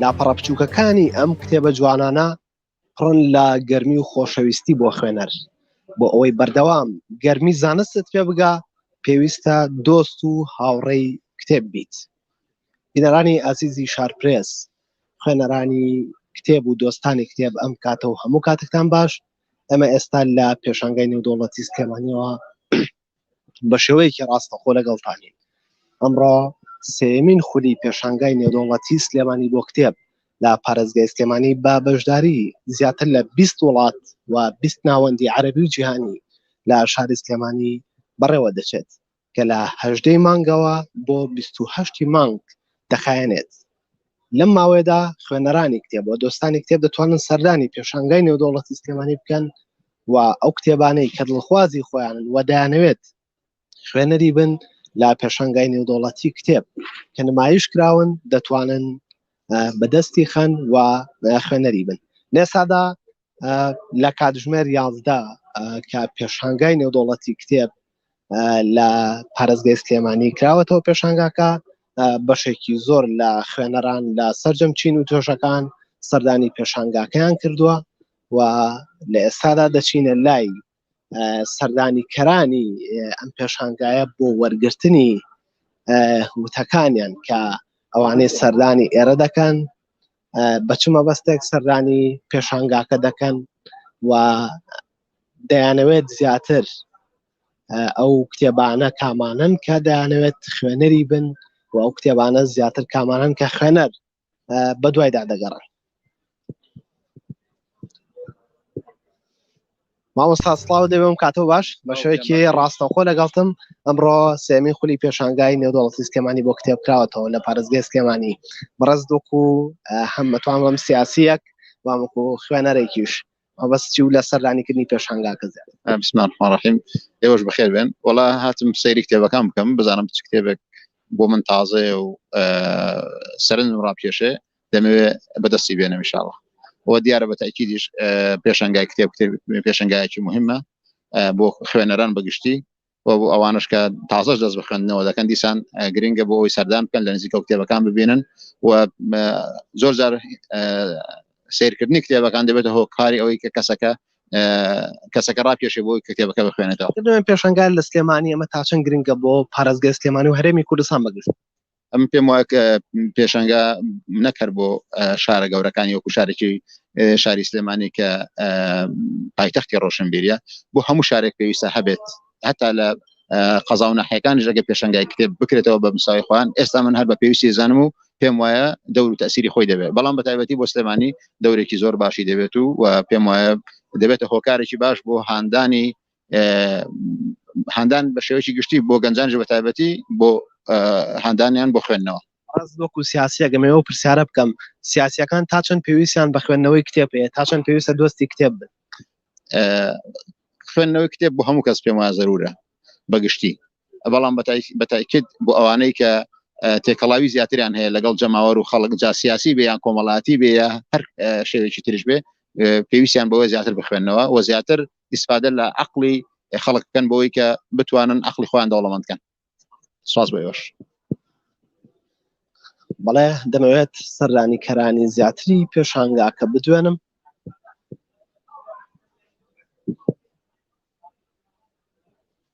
لاپەڕە بچووکەکانی ئەم کتێبە جوانانە پڕن لە گەرمی و خۆشەویستی بۆ خوێنەر بۆ ئەوەی بەردەوام گەرمی زانستت پێ بگا پێویستە دۆست و هاوڕێی کتێب بیت بینەرانی ئازیزی شارپرێس خوێنەرانی کتێب و دۆستانی کتێب ئەم کاتە و هەموو کاتێکتان باش ئەمە ئێستا لە پێشانگای نێودوڵەتی سلێمانیەوە بە شێوەیەکی ڕاستەخۆ لەگەڵتانین. ئەمڕۆ سێیەمین خولی پێشانگای نێودەوڵەتی سلێمانی بۆ کتێب لە پارێزگای سلێمانی بە بەشداری زیاتر لە بیست وڵات و بیست ناوەندی عەرەبی و جیهانی لە شاری سلێمانی بەڕێوە دەچێت کە لە هەژدەی مانگەوە بۆ بیست و هەشتی مانگ دەخایەنێت. لەم ماوەیەدا خوێنەرانی کتێب و دۆستانی کتێب دەتوانن سەردانی پێشانگای نێودەوڵەتی سلێمانی بکەن و ئەو کتێبانەی کە دڵخوازی خۆیان و دەیانەوێت خوێنەری بن لە پێشانگای نێودەوڵەتی کتێب کە نمایش کراون دەتوانن بەدەستی خەن و خوێنەری بن لێسادا لە کاتژمێر یازدە کە پێشانگای نێودوڵەتی کتێب لە پارێزگەی سلێمانی کراوەتەوە پێشانگاکە بەشێکی زۆر لە خوێنەران لە سرجەم چین و توێژەکان سەردانی پێشانگاکەیان کردووە و لە ئێستادا دەچینە لای سەردانیکەرانی ئەم پێشانگایە بۆ وەرگرتنی وتەکانیان کە ئەوانەی سەردانی ئێرە دەکەن بەچمە بەستێک سەردانی پێشانگاکە دەکەن و دەیانەوێت زیاتر ئەو کتێبانە کامانن کە دەیانەوێت خوێنەری بن و ئەو کتێبانە زیاتر کامانن کە خوێنەر بە دوایدا دەگەڕن مامۆستا سڵاو دەبێم کاتەوە باش بە شوێکی ڕاستەخۆ لەگەڵتم ئەمڕۆ سێمی خولی پێشانگای نێودوڵەتی سکێمانی بۆ کتێب کراوەتەوە لە پارێزگای سکێمانی بەڕێز دۆک و هەمەتوان بەم سیاسیەک وامکو خوێنەرێکیش مەبەستی و لە سەردانیکردنی پێشانگاکە زیاتر. بسم اللە الرحمن الرحیم ئێوەش بەخێر بێن وەڵا هاتم سەیری کتێبەکان بکەم بزانم چ کتێبێک بۆ من تازەیە و سەرنجم ڕاپکێشێ دەمەوێ بەدەستی بێنم ان شاء الله و دیارە بە تاکیدیش پێشەنگای کتێب کتێب پێشەنگایەکی مهمە بۆ خوێنەران بەگشتی و بۆ ئەوانش کە تازەش دەست بخوێندنەوە دەکەن دیسان گرنگە بۆ ئەوی سەردان بکەن لە نزیکە کتێبەکان ببینن و زۆر جار سیرکردنی کتێبەکان دەبێتە هۆ کاری ئەوەی کە کەسەکە کەسەکە ڕاپێشێ بۆ کتێبەکە بخوێنێتەوە پێشنگار لە سلێمانی ئەمە تاچەند گرنگە بۆ پارێزگە سلێمانی و هەرێمی کوردستان بەگشت ئەم پێم وایە کە پێشەنگا نەک هەر بۆ شارە گەورەکانی وەکو شارێکی شاری سلێمانی کە پایتەختی ڕۆشنبیریە بۆ هەموو شارێک پێویستە هەبێت هەتا لە قەزا و ناحەکانی ژەگە پێشنگای کتێب بکرێتەوە بە مساوی خۆیان ئێستا من هەر بە پێویستی زانم و پێم وایە دەور تەسیری خۆی دەبێت بەڵام بە تایبەتی بۆ سلێمانی دەورێکی زۆر باشی دەبێت و و پێم وایە دەبێتە هۆکارێکی باش بۆ هاندانی هاندان بە شێوەیەکی گشتی بۆ گەنجانش بە تایبەتی بۆ هاندانیان بۆ خوێندنەوە باز وەکو سیاسیەکەم ئێوە پرسیارە بکەم سیاسیەکان تا چەند پێویستیان بە خوێندنەوەی کتێب هەیە تا چەند پێویستە دۆستی کتێب بن خوێندنەوەی کتێب بۆ هەموو کەس پێم وایە زەرورە بەگشتی بەڵام بەتایکت بۆ ئەوانەی کە تێکەڵاوی زیاتریان هەیە لەگەڵ جەماوەر و خەڵک جا سیاسی بێ یان کۆمەڵاتی بێ هەر شێوێکی ترش بێ پێویستیان بەوە زیاتر بخوێنەوە و زیاتر ئیسفادە لە عقلی خەڵک بکەن بۆی کە بتوانن عقلی خۆیان دەوڵەمەند کەن سواز بۆ ئێوەش بەڵێ دەمەوێت سەردانی کەرانی زیاتری پێشانگاکە بدوێنم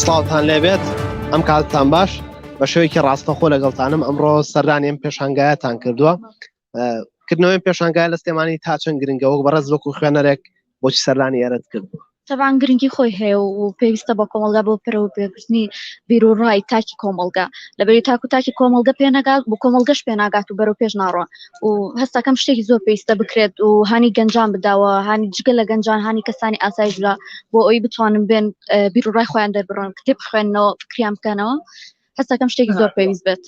سڵاوتان لێبێت ئەم کاتتان باش بە شێوەیەکی ڕاستەخۆ لەگەڵتانم ئەمڕۆ سەردانیم پێشانگایەتان کردووە کردنەوەی پێشانگای لە سلێمانی تا چەند گرنگەوە بەڕێز وەکو خوێنەرێک بۆچی سەردانی ئێرەت کردووە؟ تەبعەن گرنگی خۆی هەیە و پێویستە بۆ کۆمەڵگا بۆ پەرەوە پێبردنی بیر و ڕای تاکی کۆمەڵگا لەبەری تاک و تاکی کۆمەڵگە پێ نەگات بۆ کۆمەڵگەش پێ ناگات و بەرەو پێش ناڕۆن و هەستەکەم شتێکی زۆر پێویستە بکرێت و هانی گەنجان بداوە هانی جگە لە گەنجان هانی کەسانی ئاسایش بدا بۆ ئەوی بتوانن بێن بیر و ڕای خۆیان دەربڕن کتێب بخوێنەوە فکریان بکەنەوە هەستەکەم شتێکی زۆر پێویست بێت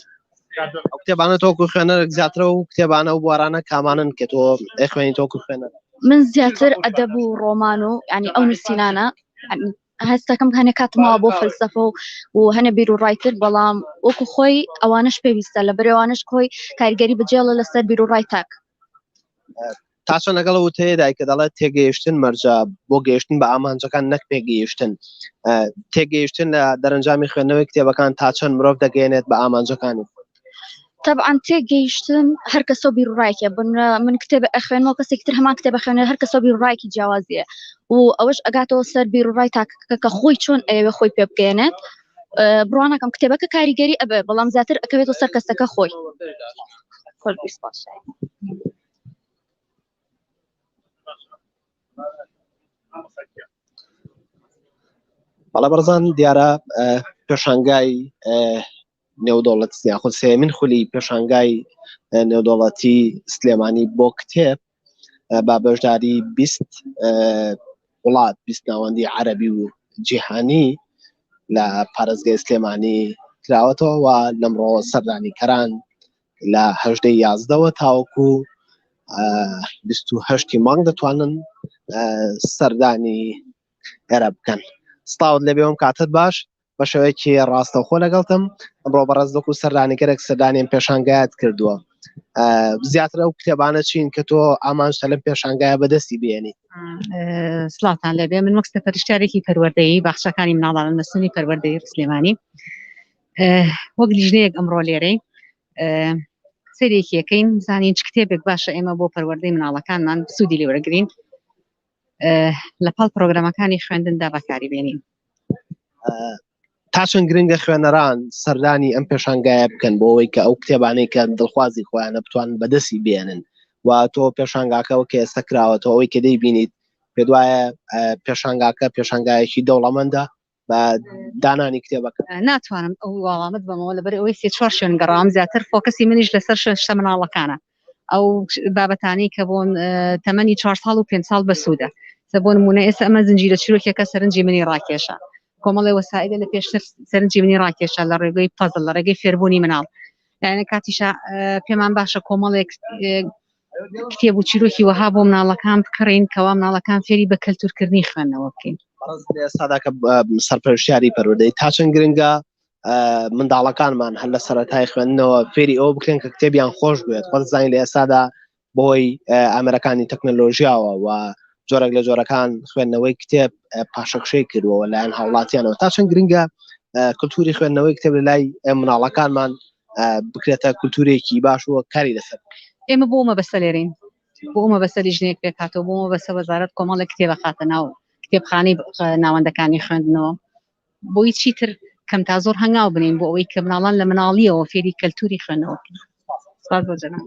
ئەو کتێبانە تۆکو خوێنەرێک زیاترە و کتێبانە و بوارانە کامانن کە تۆ ئەخوێنی تۆکو خوێنەر من زیاتر ئەدەب و ڕۆمان و ینی ئەو نووسینانە هەستەکەم هەنێ کاتمەوە بۆ فەلسەفە و و هەنە بیر و ڕایتر بەڵام وەکو خۆی ئەوانش پێویستە لە برێوانش کۆی کارگەری بجێڵە لەسەر بیر و ڕای تاک تا چەند لەگەڵ وتەیە دایکە دەڵێت تێگەیشتن مەرجە بۆ گەیشتن بە ئامانجەکان نەک پێگەیشتن تێگەیشتن لە دەرەنجامی خوێندنەوەی کتێبەکان تا چەند مرۆڤ دەگەێنێت بە ئامانجەکانی طبعا تێگەیشتن هەر کەسە بیرڕایکە بن من کتێبە ئەخوێنەوە کەسێک تر هەمان کتێبە خوێنە هەر کەسە بیرڕایکی جیاوازیە و ئەوەش ئەگاتەوە سەر بیرڕای تاکەکە کە خۆی چۆن ئەوێ خۆی پێ بگەێنێت بڕوانەکەم کتێبەکە کاریگەری ئەبێ بەڵام زیاتر ئەکەوێت و سەر کەسەکە خۆی. بەڵە بەرزان دیارە پێشانگای نێودەوڵەت یاخود سێمین خولی پێشانگای نێودەوڵەتی سلێمانی بۆ کتێب با بەشداری بیست وڵات بیست ناوەندی عەربی و جیهانی لە پارێزگای سلێمانی کراوەتەوە و لەمڕۆ سەردانی کەران لە هەژدە یازدەوە تاوەکو بیست و هەشتی مانگ دەتوانن سەردانی ئێرە بکەن ستاوت لەبێ ئەم کاتت باش بە شێوەیەکی ڕاستەخۆ لەگەڵتم ئەمڕۆ بەڕێز دەکو سەردانیگەرێک سەردانیم پێشانگایت کردووە زیاتر ئەو کتێبانە چین کە تۆ ئامانجتە لەم پێشانگایە بەدەستی بێنی سلاتان لەبێ من وەکستە پەرشتارێکی پەروەردەیی باخشەکانی مناڵانە نەسنی پەروەردەی سلێمانی وەک لیژنەیەک ئەمڕۆ لێرەی سەرێکیەکەین زانین چ کتێبێک باشە ئێمە بۆ پەروەردەی مناڵەکانمان سوودی لێوەرەگرین لە پاڵ پرۆگرامەکانی خوێندندا بەکاری بێنین تاچون گرنگە خوێنەران سەردانی ئەم پێشانگایە بکەن بۆ ئەوەی کە ئەو کتێبانەی کە دڵخوازی خۆیانە بتوان بەدەستی بێنن و تۆ پێشانگاکەەوە کە ئێستا کراوەەوە ئەوەی کە دەیبینیت پێ دوایە پێشانگاکە پێشانگایەکی دەوڵەمەندە بە دانانی کتێبەکە ناتوانم ئەو وەڵامت بەمەوە لەبەر ئەوەی سێ چوار شوێن گەڕام زیاتر فۆکەسی منیش لەسەر شتە مناڵەکانە ئەو بابەتانی کە بۆن تەمەنی چوار ساڵ و پێ ساڵ بەسوودە سە بۆ نمونە ئێستا ئەمە زنجیرە چیرۆکێکە سەرنجی منی ڕاکێشە کۆمەڵی وەسایلە لە پێشتر سەرنجی منی ڕاکێشە لە ڕێگەی پەزل لە ڕێگەی فێربوونی مناڵ یانە کاتیشا پێمان باشە کۆمەڵێک کتێب و چیرۆکی وەها بۆ مناڵەکان بکڕین کەوا مناڵەکان فێری بە کەلتورکردنی خوێندنەوە بکەین ساداکە سەرپەرشتیاری پەروەدەی تا چەند گرنگە منداڵەکانمان هەر لە سەرەتای خوێندنەوە فێری ئەو بکرێن کە کتێبیان خۆش بێت خۆ زانین لە ئێسادا بۆی ئامرەکانی تەکنەلۆژیاوە و جۆرەك لە جۆرەکان خوێندنەوەی کتێب پاشەکشەی کردووە لایەن هاوڵاتیانەوە تا چەند گرنگە کللتوری خوێندنەوەی کتێب لە لای مناڵەکانمان بکرێتە کولتورێکی باش و کاری لەسەر ئێمە بۆ مەبەستە لێرەین بۆ مەبەستە لیژنەیەک پێکهاتەوە بۆ مەبەستە وەزارەت کۆمەڵە کتێبە خاتە ناو کتێبخانەی ناوەندەکانی خوێندنەوە بۆی چی تر کەم تا زۆر هەنگاو بنین بۆ ئەوەی کە مناڵان لە مناڵیەوە فێری کەلتوری خوێنەوە سپاس بۆ جەناب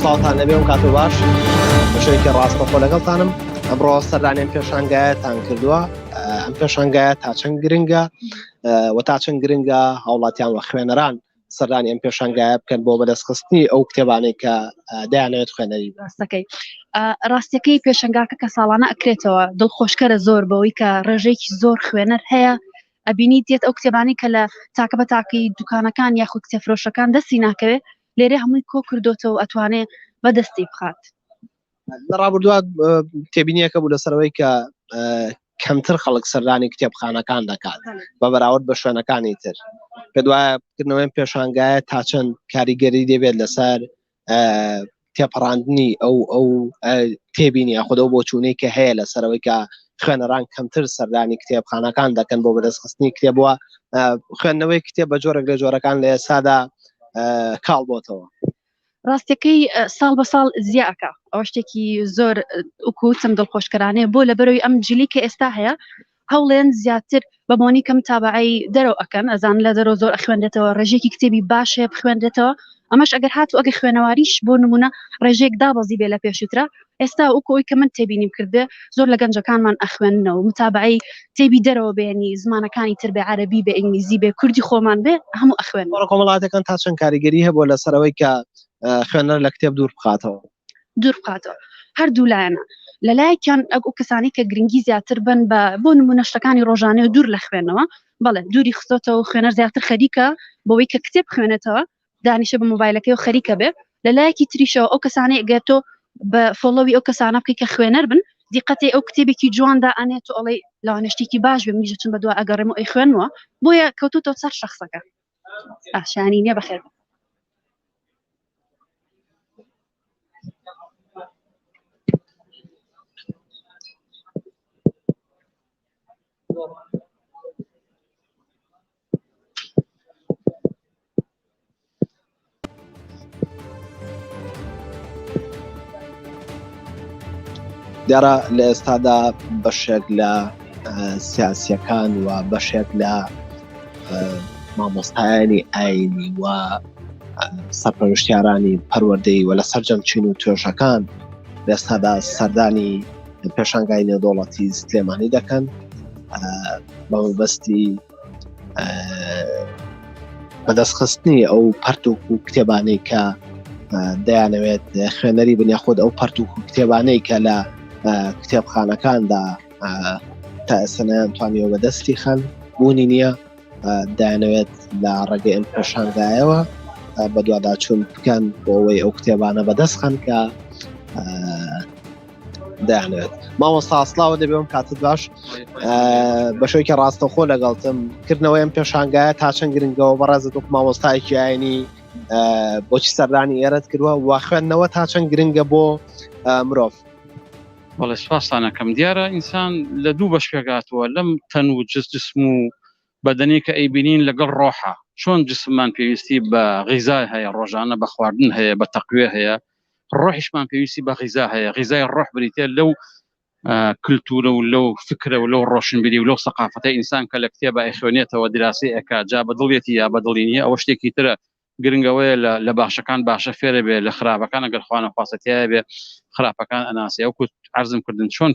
ساڵتان لەبێ و کاتۆ باش شێکی ڕاستەخۆ لەگەڵتانم ئەمڕۆ سەردانیان پێشانگایەتان کردووە ئەم پێشانگایە تا چەند گرنگە و تا چەند گرنگە هاوڵاتیان و خوێنەران سەردانی ئەم پێشانگایە بکەن بۆ بەدەستخستنی ئەو کتێبانەی کە دایانەوێت خوێنەری ڕاستەکەی ڕاستەکەی پێشنگاکە کە ساڵانە ئەکرێتەوە دڵخۆشکەرە زۆر بەوەی کە ڕێژەیەکی زۆر خوێنەر هەیە ئەبینی دێت ئەو کتێبانی کە لە تاکە بە تاقی دوکانەکان یاخود کتێفرۆشەکان دەستی ناکەوێت لێرە هەمووی کۆ کردوتەوە ئەتوانێ بەدەستی بخات لە ڕابردووە تێبینیەکە بوو لەسەرەوەی کە کەمتر خەڵک سەردانی کتێبخانەکان دەکات بە بەراورد بە شوێنەکانی تر پێ دوایە بکردنەوەی پێشانگایە تا چەند کاریگەری دەبێت لەسەر تێپەڕاندنی ئەو ئەو تێبینی خودەو بۆ چوونەی کە هەیە لە سەرەوەی کە خوێنەران کەمتر سەردانی کتێبخانەکان دەکەن بۆ بەدەستخستنی کتێبووە خوێندنەوەی کتێب بە جۆرەك لە جۆرەکان لە ئێسادا کاڵ بۆتەوە ڕاستەکەی ساڵ بە ساڵ زیاکە ئەوە شتێکی زۆر وکوتم دڵخۆشکەرانەیە بۆ لە بەرەوەی ئەم جلی کە ئێستا هەیە هەوڵێن زیاتر بە بۆنی کەم تابعی دەرەوە ئەکەن ئەزان لە دەرەوە زۆر ئەخوێنێتەوە ڕێژێکی کتێبی باشەیە بخوێنێتەوە ئەمەش ئەگەر هاتو ئەگە خوێنەواریش بۆ نمونە ڕێژێک دابەزی بێ لە پێشوترا ئێستا وەکو ئەوەی کە من تێبینیم کردبێ زۆر لە گەنجەکانمان ئەخوێننەوە متابەعەی تێبی دەرەوە بێ یانی زمانەکانی تر بێ عەرەبی بێ ئینگلیزی بێ کوردی خۆمان بێ هەموو ئەخوێن. تۆڕە کۆمەڵاتیەکان تا چەند کاریگەری هەبووە لەسەر ئەوەی کە خوێنەر لە کتێب دوور بخاتەوە؟ دوور بخاتەوە هەردوو لایەنە لە لایەکیان ئەو کەسانی کە گرنگی زیاتر بن بە بۆ نمونە شتەکانی ڕۆژانەی و دوور لە خوێنەوە بەڵێ دووری خستۆتەوە خوێنەر زیاتر خەریکە بەوەی کە کتێب بخوێنێتەوە دانیشە بە مۆبایلەکەی و خەریکە بێ لە لایەکی تریشەوە ئەو کەسانەی گەر تۆ بە فۆڵۆوی ئەو کەسانە بکەی کە خوێنەر بن دیقەتی ئەو کتێبێکی جوان دا ئەنێ تۆ ئەڵێ لەوانە شتێکی باش بێ منیش چون بە دوا ئەگەڕێم و ئەی خوێنمەوە بۆیە کەوتوتەوە سەر شخصەکە ئاشانی نییە بەخێر بن دیارە لە ئێستادا بەشێک لە سیاسیەکان و بەشێک لە مامۆستایانی ئاینی و سەرپەرشتیارانی پەروەردەی وە لە سەررجەم چین و توێژەکان لەستادا سەردانی پێشانگای نێودوڵەتی سلێمانی دەکەن بە مەبەستی بەدەستخستنی ئەو پەرتوک و کتێبانەی کە دەیانەوێت خوێنەری بنیا خۆت ئەو پەرتوک و کتێبانەی کە لە کتێبخانەکاندا تا ئێسەنیان توانیەوە بەدەستی خان بوونی نییە دایانەوێت لە ڕێگە ئەم پێشانگایەوە بەدواداچوون بکەن بۆ ئەوەی ئەو کتێبانە بەدەستخان کە دەیانەوێت مامۆستا سلااوە دەبێ ئەم کاتت باش بەشێکی ڕاستەخۆ لەگەڵتم کردنەوەی ئەم پێشانگایە تا چەند گرنگەوە بەڕێزە دۆک مامۆستایەکی ئاینی بۆچی سەردانی ئێرەت کردوە و خوێندنەوە تا چەند گرنگە بۆ مرۆڤ بەڵێ سوپاسانەکەم دیارە ئینسان لە دوو بەش پێگاتووە لەم تەن و جست جسم و بەدەنی کە ئەیبینین لەگەڵ ڕۆحە چۆن جسممان پێویستی بە غیزای هەیە ڕۆژانە بە خواردن هەیە بە تەقوێ هەیە ڕۆحیشمان پێویستی بە غیزا هەیە غیزای ڕۆح بریتە لەو کللتورە و لەو فکرە و لەو ڕۆشنبیری و لەو سەقافەتە ئینسان کە لە کتێبە ئەخوێنێتەوە دراسی ئەک جا بە دڵێتی یا بە دڵی نیە ئەوە شتێکی ترە گرنگەوەیە لە باشەکان باشە فێرە بێ لە خراپەکان ئەگەر خوانە خواستەتیایە بێ خراپەکان ئەناسی ئەو کوت عرضم کردن چۆن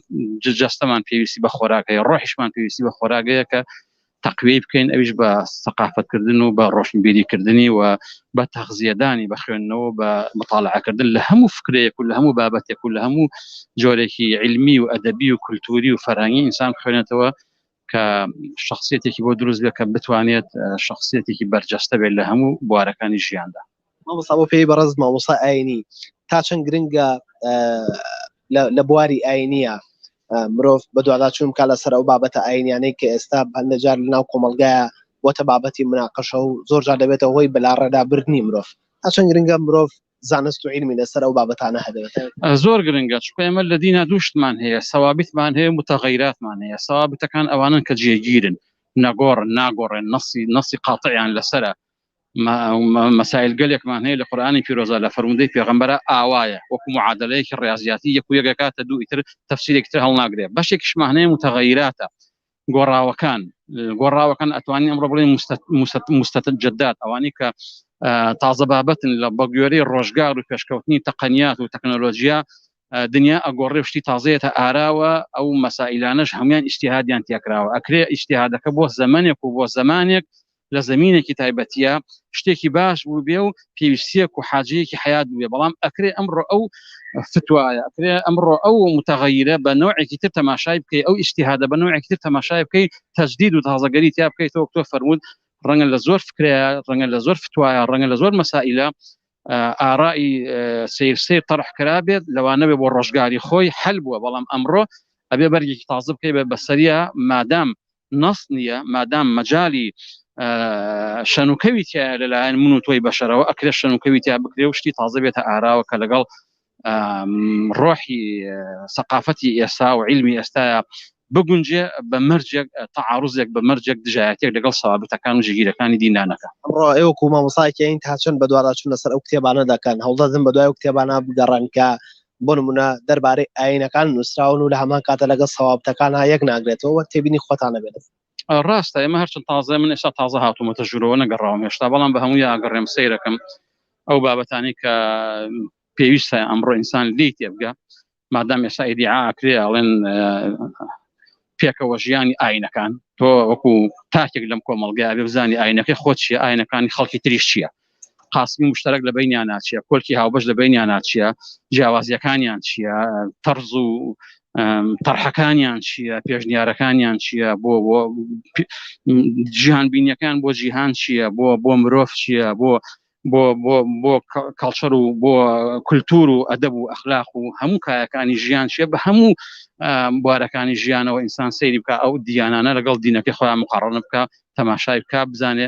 جەستەمان پێویستی بە خۆراکەیە ڕۆحیشمان پێویستی بە خۆراگەیە کە تەقویەی بکەین ئەویش بە سەقافەتکردن و بە ڕۆشنبیری کردنی و بە تەغزیەدانی بە خوێندنەوە بە مطالعکردن لە هەموو فکرەیەک و لە هەموو بابەتێک و لە هەموو جۆرێکی علمی و ئەدەبی و کولتوری و فەرهنگی ئینسان خوێنێتەوە کە شخصیتێکی بۆ دروست بێت کە بتوانێت شخصیتێکی بەرجەستە بێت لە هەموو بوارەکانی ژیاندا مامۆستا بۆ پێی بەڕز مامۆستا ئاینی تا چەند گرنگە لە بواری ئاینیە مرۆڤ بە دوادا چون کا لەسەر ئەو بابەتە ئاینیانەی کە ئێستا هەندە جار لە ناو کۆمەلگایە وەتە بابەتی مناقەشە و زۆر جار دەبێتە هۆی بەلاڕێدا بردننی مرۆڤ تا چەند گرنگە مرۆڤ زانست و علمی لەسەر ئەو بابەتانە هەبێت زۆر گرنگە چکە ئێمە لە دینا دووشتمان هەیە سەوابیتمان هەیە متەغیراتمان هەیە سەوابتەکان ئەوانن کە جێگیرن نەگۆڕن ناگۆڕێن نەسی نەسی قاتعیان لەسرە مەسایل گەلێکمان هەیە لە قورئانی پیرۆزە لە فەرموودەی پێغەمبەرە ئاوایە وەکو معادلەیەکی ڕیازیاتی یەک و یەک دەکاتە دوو ئیتر تەفسیرێکی تر هەڵناگرێ بەشێکیشمان هەیە متغیراتە گۆڕاوەکان گۆڕاوەکان ئەتوانین ئەمڕۆ بڵێ مستەجدات ئەوانەی کە تازە بابەتن لە بەگوێرەی ڕۆژگار و پێشکەوتنی تەقەنیات و تەکنۆلۆژیا دنیا ئەگۆڕێ شتی تازەیەتە ئاراوە ئەو مەسائلانش هەموان ئیشتیهادیان تێکراوە ئەکرێ ئیشتیهادەکە بۆ زمانێک و بۆ زمانێک لە زەمینێکی تایبەتیە شتێکی باش بوو بێ و پێویستیەک و حاجەیەکی حیات بێ بەڵام ئەکرێ ئەمڕۆ ئەو فتوایە ئەکرێ ئەمڕۆ ئەو متەغەیرە بە نوعێکی تر تەماشای بکەی ئەو ئیشتیهادە بە نوعێکی تر تەماشای بکەی تەجدید و تازەگەری تیا بکەیتەوە تۆ فەرمونون ڕەنگە لە زۆر فکرەیە ڕەنگە لە زۆر فتوایە ڕەنگە لە زۆر مەسائلە ئارائی سیر سیر طرح کرا بێت لەوانەوێ بۆ ڕۆژگاری خۆی حل بووە بەڵام ئەمڕۆ ئەبێ بەرگێکی تازە بکەی بە بەسەریا مادام نەس نییە مادام مەجای شەنوکەوی تیا لەلایەن من و تۆی بەشەرەوە ئەکرێ شەنوکەوی تیا بکرێ و شتی تازە بێتە ئاراوە کە لەگەڵ ڕۆحی سەقافەتی ئێستا و علمی ئێستاە بگونجێ بە مەرجێک تەعاڕزێک بە مەرجێک دژایەتێک لەگەڵ سەوابتەکان و ژگیرەکانی دینانەکە ئەمڕۆ ئێوە و مامۆساکەین تا چەند بە دوواراچون لەسەر ئەو کتێبانە دەکەن هەڵدەدن بە دوای و کتێبانە بگەڕن کە بۆ نمونە دەربارەی ئاینەکان نووسراون و لە هەمان کاتە لەگەڵ سەوابتەکان ها یەک ناگرێتەوە تێبینی خۆتانە بێت ڕاستە ئێمە هەرچەند تازە من ئێستا تازە هاتوومەتە ژورەوە نەگەڕاوم هێشتا بەڵام بە هەموو یاگەڕێم سیرەکەم ئەو بابەتانی کە پێویستە ئەمڕۆ ئینسان لی تێبگە مادام ئێستا ئیدیعاکرێ ئەڵێن پێکەوە ژیانی ئاینەکان تۆ وەکو تاکێک لەم کۆمەلگای بزانانی ئاینەکەی خۆ چیە ئاینەکانی خەڵکی تریش چیە قاسمی مشتەرەک لە بینیان ناچیە کۆلکی هاوبەش لە بینیان ناچیە جیاوازیەکانیان چییە تەرز و تەرحەکانیان چییە پێشنیارەکانیان چییە بۆ بۆ جیهان بینیەکان بۆ جیهان چییە بۆ بۆ مرۆڤ چییە بۆ بۆ بۆ بۆ کاڵچەر و بۆ کولتور و ئەدەب و ئەخلاق و هەموو کایەکانی ژیان چیە بە هەموو بوارەکانی ژیانەوە ئینسان سەیری بکە ئەو دیانانە لەگەڵ دینەکەی خۆیان مقاڕنە بکە تەماشای بکە بزانێ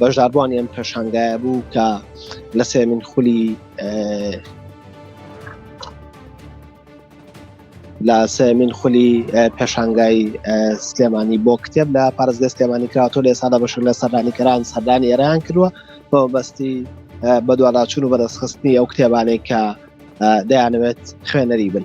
بەشداربووانی ئەم پێشانگایە بوو کە لە سێمین خولی لە سێمین خولی پێشانگای سلێمانی بۆ کتێب لە پارێزگە سلێمانی کراوەوە لە ئێسادا بەشر لە سەردانیکەران سەردانی ئێران کردووە بۆ بەستی بەدواداچون و بەدەستخستنی ئەو کتێبانەی کە دەیانەوێت خوێنەری بن.